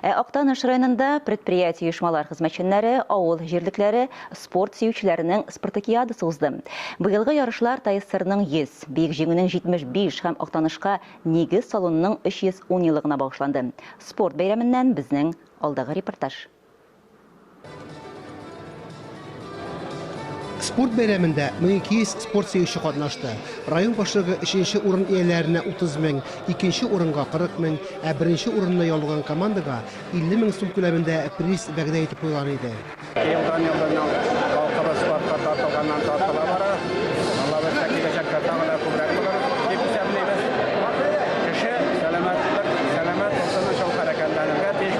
Ә Актаныш районында предприятие-оешмалар хезмәтчәннәре, авыл җирлекләре, спорт сөючеләренең спартакиадасы узды. Быелгы ярышлар ТАССРның 100, Бөек Җиңүнең 75 һәм Актанышка нигез салунының 310 еллыгына багышланды. Спорт бәйрәменнән безнең алдагы репортаж. Спорт бәйрәмендә 1200 спорт сөюче катнашты. Район башлыгы өченче урын ияләренә 30 мең, икенче урынга 40 мең, ә беренче урынны яулаган командага 50 мең сум күләмендә приз вәгъдә итеп куйган иде. Елдан-елдан халкыбыз спортка тартылганнан тартыла бара. Аллабирса, киләчәктә тагы да күбрәк булыр дип исәплибез. Кеше сәламәтлек, сәламәт булсын өчен хәрәкәтләнергә тиеш.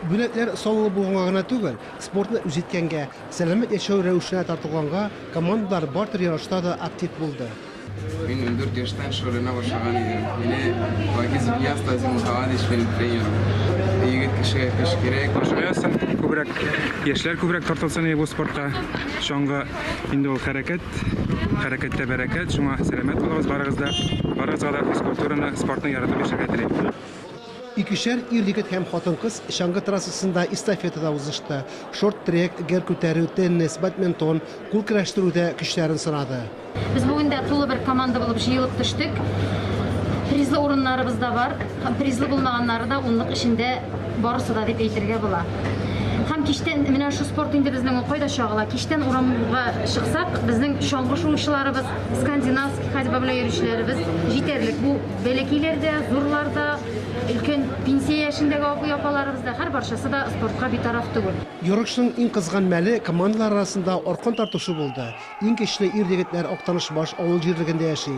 Бүләкләр саллы булганга гына түгел, спортны үз иткәнгә, сәламәт яшәү рәвешенә тартылганга командалар бартер ярышта да актив булды. Мин ундүрт яшьтән шөгыльләнә башлаган идем. Мине Вагиз Ильяс Тазим Мухаммадович минем тренерым. Егет кешегә көч кирәк. Күбрәк яшьләр күбрәк тартылсын иде бу спортка. Чаңгы инде ул хәрәкәт. Хәрәкәттә бәрәкәт, шуңа сәламәт булыгыз барыгыз да. Барыгызга да физкультураны, спортны яратып яшәргә телим. Икешәр ир-егет һәм хатын-кыз чаңгы трассасында эстафетада узышты. Шорт-трек, гер күтәрү, теннис, бадминтон, кул көрәштерүдә көчләрен сынады. Без бүген дә тулы бер команда булып җыелып төштек. Призлы урыннарыбыз да бар. Һәм призлы булмаганнары да унлык эчендә барысы да дип әйтергә була. Һәм кичтән менә шул спорт инде безнең ул кайда чагыла. Кичтән урамга чыксак, безнең чаңгы шуучыларыбыз, скандинавский ходьба белән йөрүчеләребез җитәрлек. Бу бәләкиләр дә, зурлар да, өлкән пенсия яшендәге абый-апаларыбыз да, һәр барчасы да спортка битараф түгел. Ярышның иң кызган мәле командалар арасында аркан тартышу булды. Иң көчле ир-егетләр Актаныш-Баш авыл җирлегендә яши.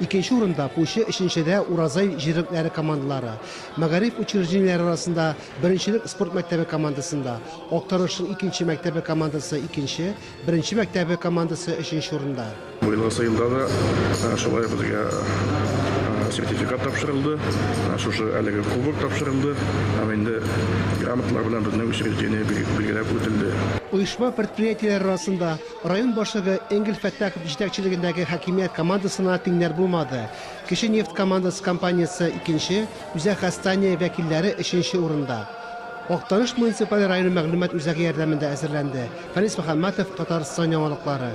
Икенче урында, Кучы, өченчедә, Уразай җирлекләре командалары. Мәгариф учреждениеләре арасында беренчелек спорт мәктәбе командасында. Актарышның икенче мәктәбе командасы икенче, беренче мәктәбе командасы өченче урында. Быелгы сыйнда да шулай ук безгә сертификат тапшырылды, шушы әлеге кубок тапшырылды һәм инде грамоталар белән безнең учреждение билгеләп үтелде. Оешма-предприятиеләр арасында, Район башлыгы Энгель Фәттахов җитәкчелегендәге хакимият командасына тиңнәр булмады. Кече нефть командасы компаниясе, икенче, Үзәк Хастания вәкилләре, өченче урында. Актаныш муниципаль районы мәгълүмат үзәге ярдәмендә әзерләнде. Фәнис Мөхәммәтов, Татарстан яңалыклары.